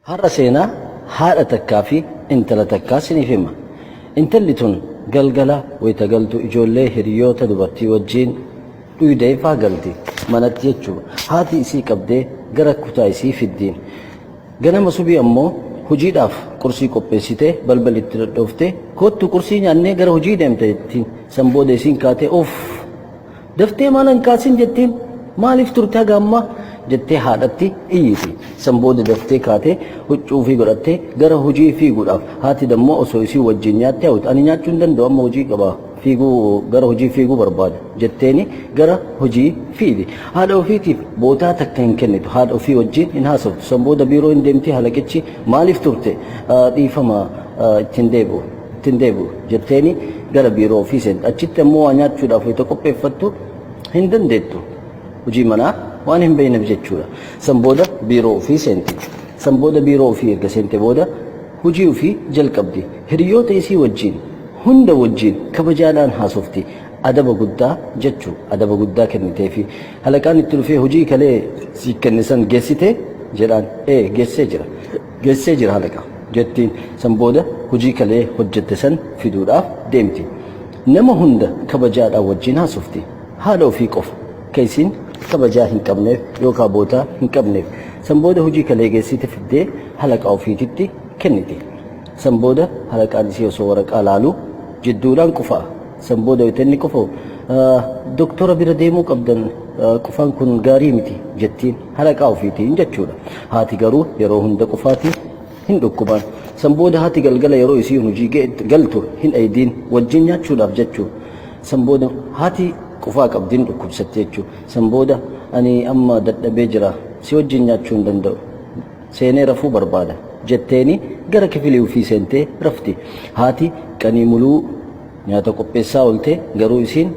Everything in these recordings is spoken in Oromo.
Har'a seenaa haadha takkaa fi intala takkaa siniif hima. Intalli tun galgala wayita galtu ijoollee hiriyoota dubartii wajjiin dhuydee faa galti. Manatti jechuudha. Haati isii qabdee gara kutaa isii fiddi. Ganama subii ammoo hojiidhaaf qursii qopheessitee balbal itti dhadhooftee koottu qursii nyaannee gara hojii deemta jettiin. San booda isiin kaatee uff! Daftee maala hin kaasin jetteen maaliif turte haga ammaa jettee haadhatti iyyiti. San booda daftee kaatee huccuu ofii godhattee gara hojii fiiguudhaaf haati dammoo osoo isii wajjiin nyaattee hawwite ani nyaachuu hin danda'u amma hojii qaba fiiguu gara hojii fiiguu barbaada jetteeni gara hojii fiidi. Haadha ofiitiif bootaa takka hin kennitu haadha ofii wajjiin hin haasoftu san booda biiroo hin deemti halaqichi maaliif turte dhiifama itti hin deebi'u. itti hin deebi'u jetteeni gara biiroo ofii seenta. Achitti ammoo waa nyaachuudhaaf wayita qopheeffattu hin dandeettu. Hojii manaa waan hin beekneef jechuudha. San booda biiroo ofii seenti. San booda biiroo ofii erga seente booda hojii ofii jalqabdi. Hiriyoota isii wajjiin hunda wajjiin kabajaadhaan haasofti. Adaba guddaa jechu adaba guddaa kenniteefi. Halaqaan itti dhufee hojii kalee siif kenne san geessitee? jedhaan. Ee geessee jira. geessee jira halaqa jettiin. San booda hojii kalee hojjette san fiduudhaaf deemti. Nama hunda kabajaadhaan wajjiin haasofti. Haadha ofii qofa ka isiin kabajaa hin qabneef yookaa bootaa hin qabneef. San booda hojii kalee geessite fiddee halaqaa ofiititti kenniti. San booda halaqaan isii osoo waraqaa laalu jidduudhaan qufa'a. San booda wayita inni qufa'u, Doktora bira deemuu qabdan, qufaan kun gaarii miti jettiin. Halaqaa ofiitiin jechuudha. Haati garuu yeroo hunda qufaati, hin dhukkubaan. San booda haati galgala yeroo isiin hojii galtu hin dhaydiin, wajjin nyaachuudhaaf jechuudha. San booda haati qufaa qabdi, hin dhukkubsatti jechuudha. San booda ani amma dadhabee jira, si wajjin nyaachuu hin danda'u. seenee rafuu barbaada jetteeni gara kifilii ufii seentee rafti. Haati qanii muluu nyaata qopheessaa oolte garuu isiin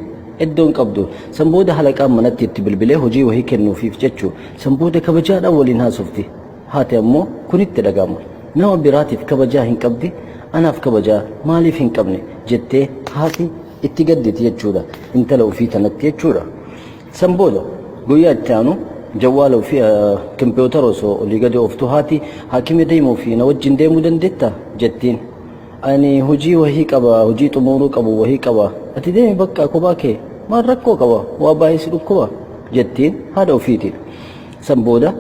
eddoo hin qabdu. San booda halaqaan manatti itti bilbilee hojii wahii kennuufiif jechu. San booda kabajaadhaan waliin haasofti. Haati ammoo kun itti dhaga'ama. Nama biraatiif kabajaa hin qabdi anaaf kabajaa maaliif hin qabne jettee haati itti gadditi jechuudha intala ufii tanatti jechuudha. San booda guyyaa itti aanu jawwaala ofii kompiwuutara osoo olii gadi ooftu haati haakimi deemuuf na wajjin deemuu dandeetta? jettiin. Ani hojii wahii qaba hojii xumuuruu qabu wahii qaba ati deemi bakka kophaa kee maal rakkoo qaba waa baay'ee si dhukkuba jettiin haadha ofiiti. San booda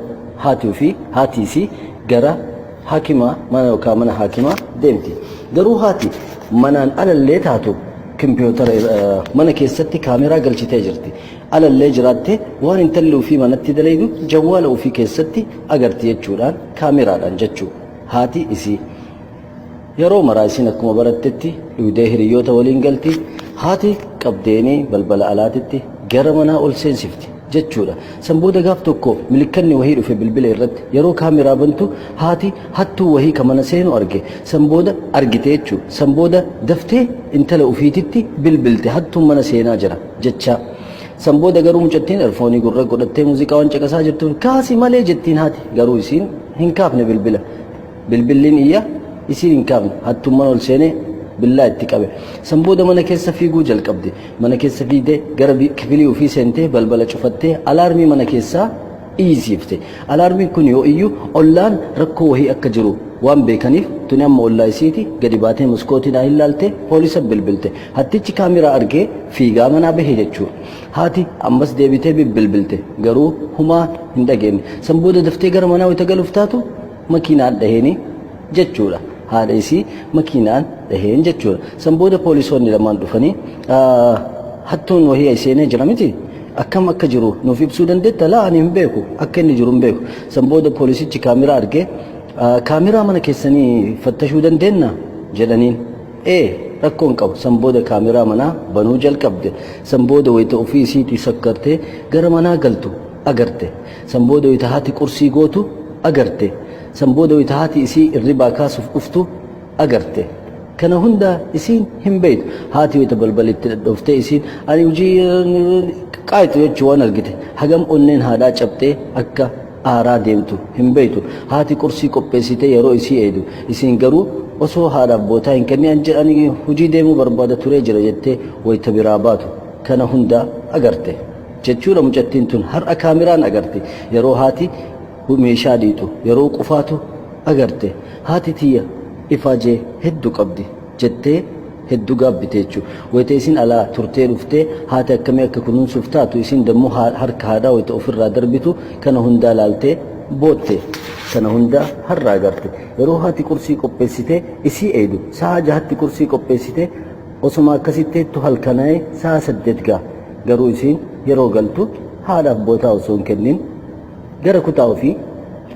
haati ofii, haati isii gara haakima mana yookaan mana haakimaa deemti. Garuu haati manaan alallee taatu kimpiyootara ir- eh, mana keessatti kaameraa galchitee jirti. Alallee jiraatte waan intalli ofii manatti dalaydu jawwaala ofii keessatti agarti jechuudhaan kaameraadhaan jechuu haati isii. Yeroo maraa isiin akkuma barattetti dhuydee hiriyyoota waliin galti. Haati qabdeenii balbala alaatitti gara manaa ol seensifti jechuudha. San booda gaaf tokko milikkanni wahii dhufe bilbila irratti. Yeroo kaameraa bantu haati hattuu wahii ka mana seenu arge. San booda argite jechuu. San booda daftee intala ufiititti bilbilte hattuun mana seenaa jira jechaa. San booda garuu mucattiin erfoonii gurra godhattee muuziqaa waan caqasaa jirtuuf kaasi malee jettiin haati. Garuu isiin hin kaafne bilbila. Bilbilliin iyya isii hin kaafne. Hattuun mana ol seenee billaa itti qabe. San booda mana keessa fiiguu jalqabde. Mana keessa fiigdee gara kifilii ofii seentee balbala cufattee alaarmii mana keessaa iyyisiifte. Alaarmiin kun yoo iyyu ollaan rakkoo wahii akka jiru waan beekaniif tuni amma ollaa isiiti gadi baatee maskootiidhaa hin laalte poolisa bilbilte. Hattichi kaameraa argee fiigaa manaa bahe jechuudha. Haati ammas deebitee bibbilbilte garuu humaa hin dhageenye. San booda daftee gara manaa wayita galuuf taatu makiinaan dhaheeni jechuudha. Haadha isii makiinaan dhaheen jechuudha. San booda poolisoonni lamaan dhufanii hattuun wahii ay seenee jira miti akkam akka jiru nuuf ibsuu dandeetta laa ani hin beeku akka inni jiru hin beeku. San booda poolisichi kaameraa argee kaameraa mana keessanii fattashuu dandeenna jedhaniin. Ee rakkoo hin qabu san booda kaameraa manaa banuu jalqabde san booda wayita ofii isiitii sakkartee gara manaa galtu agarte. San booda wayta haati qursii gootu agarte. San booda wayta haati isii irribaa kaasuf dhuftu agarte. Kana hunda isiin hin beeytu. Haati wayta balbala itti dhadhooftee isiin ani hujii qaayxu jechuu waan argite hagam onneen haadhaa cabxee akka aaraa deemtu hin beeytu. Haati qursii qopheessitee yeroo isii eeydu isiin garuu osoo haadhaaf bootaa hin kenni ani hujii deemuu barbaada turee jira jettee wayta biraa baatu kana hunda agarte. Jechuudha mucattiin tun har'a kaameraan agarte yeroo haati meeshaa dhiixu yeroo qufaatu agarte haati tiyya ifaajee heddu qabdi jettee heddu gaabbite jechu wayta isin alaa turtee dhuftee haati akkamii akka kunuunsuuf taatu isin dammu harka haadhaa wayta ofirraa darbitu kana hundaa laaltee bootte kana hundaa har'a agarte yeroo haati qursii qopheessitee isii eeydu sa'aa jahatti qursii qopheessitee Osoma akkasi teettu halkanaa'e sa'a saddeet ga'a. Garuu isiin yeroo galtu haadhaaf bootaa osoo hin kennin gara kutaa ofii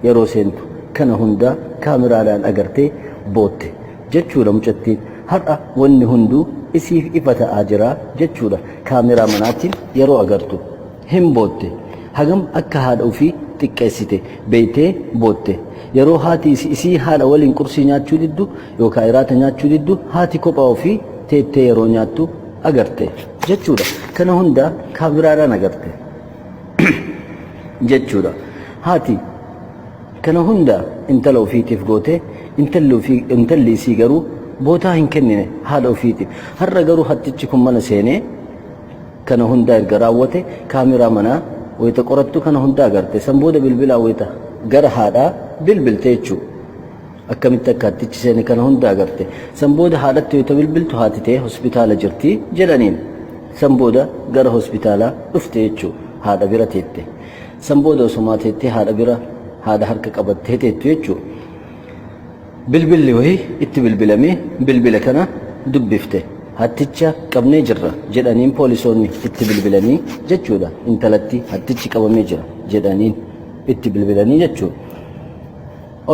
yeroo seentu kana hundaa kaameraadhaan agartee bootte. Jechuudha mucattiin. Har'a wanni hunduu isiif ifa ta'aa jira jechuudha. Kaameraa manaatiin yeroo agartu. Hin bootte. Hagam akka haadha ofii xiqqeessite beeytee bootte. Yeroo haati isii haadha waliin qursii nyaachuu diddu yookaa iraata nyaachuu diddu haati kophaa ofii teettee yeroo nyaattu agarte jechuudha kana hunda kaamiraadhaan agarte jechuudha haati kana hunda intala ofiitiif goote intalli ofii intalli isii garuu bootaa hin kennine haadha ofiiti har'a garuu hattichi kun mana seenee kana hundaa erga raawwate kaameraa manaa wayita qorattu kana hundaa agarte san booda bilbilaa wayita gara haadhaa bilbilte jechuudha Akkamitti akka hattichi seene kana hunda agarte. San booda haadhatti wayita bilbiltu haati tee hospitaala jirti jedhaniin. San booda gara hospitaalaa dhufte jechuu. Haadha bira teette. San booda osomaa teettee haadha bira haadha harka qabattee teettu jechuu. Bilbilli wayii itti bilbilamee bilbila kana dubbifte. Hatticha qabnee jirra jedhaniin poolisoonni itti bilbilanii jechuudha. Intalatti hattichi qabamee jira jedhaniin itti bilbilanii jechuudha.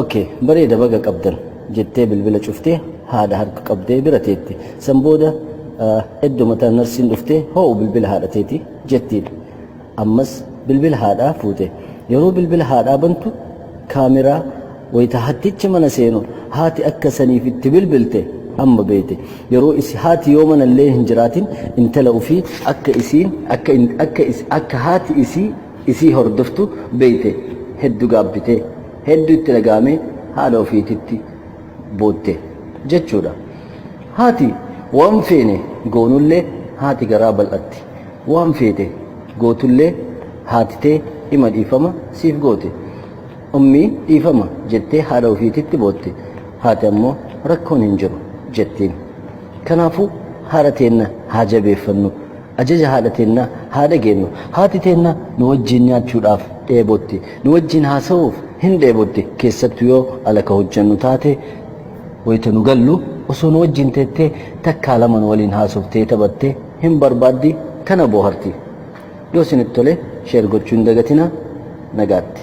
ok bareeda baga qabdan jettee bilbila cuftee haadha harka qabdee bira teetti san booda eddo mataa narsiin dhuftee hoo'u bilbila haadha teeti jettiin ammas bilbila haadhaa fuute yeroo bilbila haadhaa bantu kaameraa wayita hattichi mana seenu haati akka saniif itti bilbilte amma beete yeroo isi haati yoo mana illee hin jiraatin intala ofii akka isiin akka akka haati isii isii hordoftu beete heddu gaabbitee hedduu itti dhaga'amee haadha ofiititti bootte jechuudha. Haati waan feene goonullee haati garaa bal'atti. Waan feete gootullee haati tee ima dhiifama siif goote. Ummii dhiifama jettee haadha ofiititti bootte. Haati ammoo rakkoon hin jiru jettiin. Kanaafuu haadha teenna haa jabeeffannu. Ajaja haadha teenna haa dhageennu. Haati teenna nu wajjiin nyaachuudhaaf dheebotti. Nu wajjiin haasa'uuf hin dheebotti. Keessattu yoo ala ka hojjannu taate wayta nu gallu osoo nu wajjiin teettee takkaa lama nu waliin haasoftee taphatte hin barbaaddi tana booharti. Yoo isinitti tole share gochuu hin dagatina. Nagaatti.